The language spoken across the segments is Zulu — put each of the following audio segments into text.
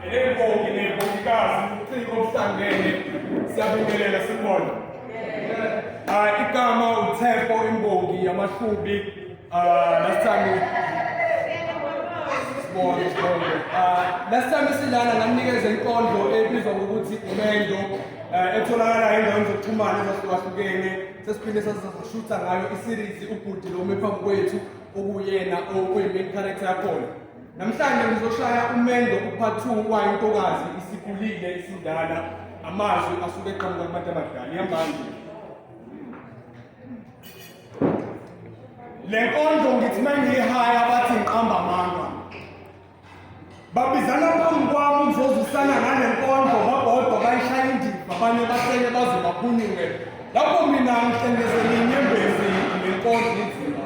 Elembongi nembongikazi ubuciko obuhlangene siyabingelela sibona. Ah igama uTheko imbongi yamahlubi ah last time sibona sibona. Ah last time silana ngamnikeza inkondlo ebizwa ngokuthi Mendo eh, etholakala endaweni zokuxhumana ezahlukahlukene sesiphinde sasashutha ngayo iseries ubhuti lo mephambi kwethu okuyena okuyi main character yakhona. Namhlanje ngizoshaya umendo uphathi wayo intokazi isikulile isindala amazwi asuke eqhamuka kubantu abadala iyambanje le nkondlo ngithi uma ngiyihaya bathi ngiqamba amanga babizana phambi kwami ukuzozwisana ngale nkondlo babodwa bayishaya indiva abanye basele baze baphunyuke lapho mina ngihlengezele inyembezi nenkondlo inzima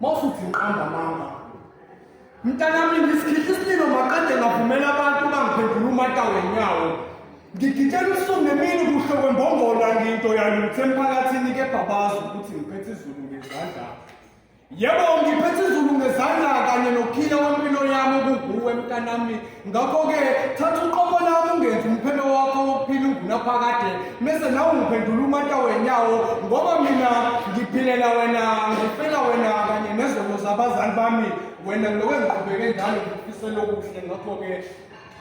mawusuthi ngiqamba amanga mntanami ngisikhihla isililo maqede ngavumela abantu bangiphendula umata wenyawo ngigitshela usuku nemini kuhle kwembongolo angiyinto yalutho emphakathini kepha bazi ukuthi ngiphethe izulu ngezandla yebo ngiphethe izulu ngezandla kanye nokhile wempilo yami kuguwe mntanami ngakho-ke thatha uqobo lami ungenzi umphelo wakho wokuphila ungunaphakade mese nawe ungiphendula umata wenyawo ngoba mina ngiphilela wena ngifela wena kanye nezono zabazali bami wena ngiloko engiqhubeke njalo ngifisela okuhle ngakho-ke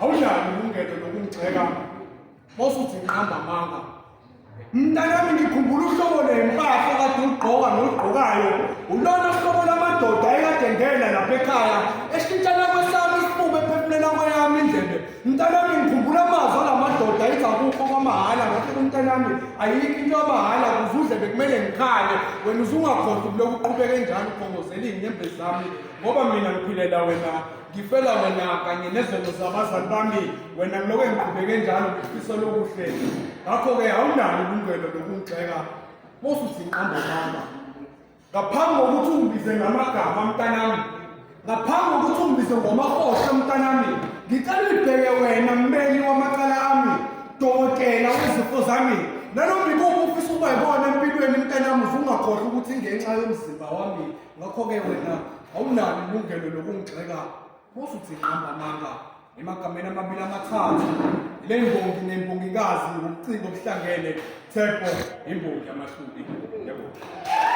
awunalo ilungelo lokungigxeka mosuthi ngiqamba amanga Mntanami ngikhumbula uhlobo lempahla kade ugqoka nolugqokayo ulona hlobo lamadoda ekade ngena lapha ekhaya eshintshana kwesami isifuba ephefumlela kweyami indlebe mntanami ngikhumbula amazwi alamadoda ethi akukho kwamahhala ngathi kumntanami ayikho into yamahhala kuze udlebe kumele ngikhale wena uzungakhohlwa ukuloku uqhubeke njani ukhongozela iy'nyembezi zami ngoba mina ngiphilela wena ngifela wena kanye nezono zabazali bami wena ngiloko engiqhubeke njalo ngifisa lokuhle ngakho-ke awunalo ilungelo lokungigxeka bosuthi ngiqamba mama ngaphambi kokuthi ungibize ngamagama mntanami ngaphambi kokuthi ungibize ngomahohle mntanami ngicela ulibheke wena mmeli wamacala ami dokotela wezifo zami nanombikuphi ufisa ubayibona empilweni mntanami uvungakhohlwa ukuthi ngenxa yomzimba wami ngakho-ke wena awunalo ilungelo lokungigxeka bosa uthi hamba manga emagameni amabili amathathu le mbongi nembongikazi ngobuciko obuhlangene thebo imbongi yamahlubi yebo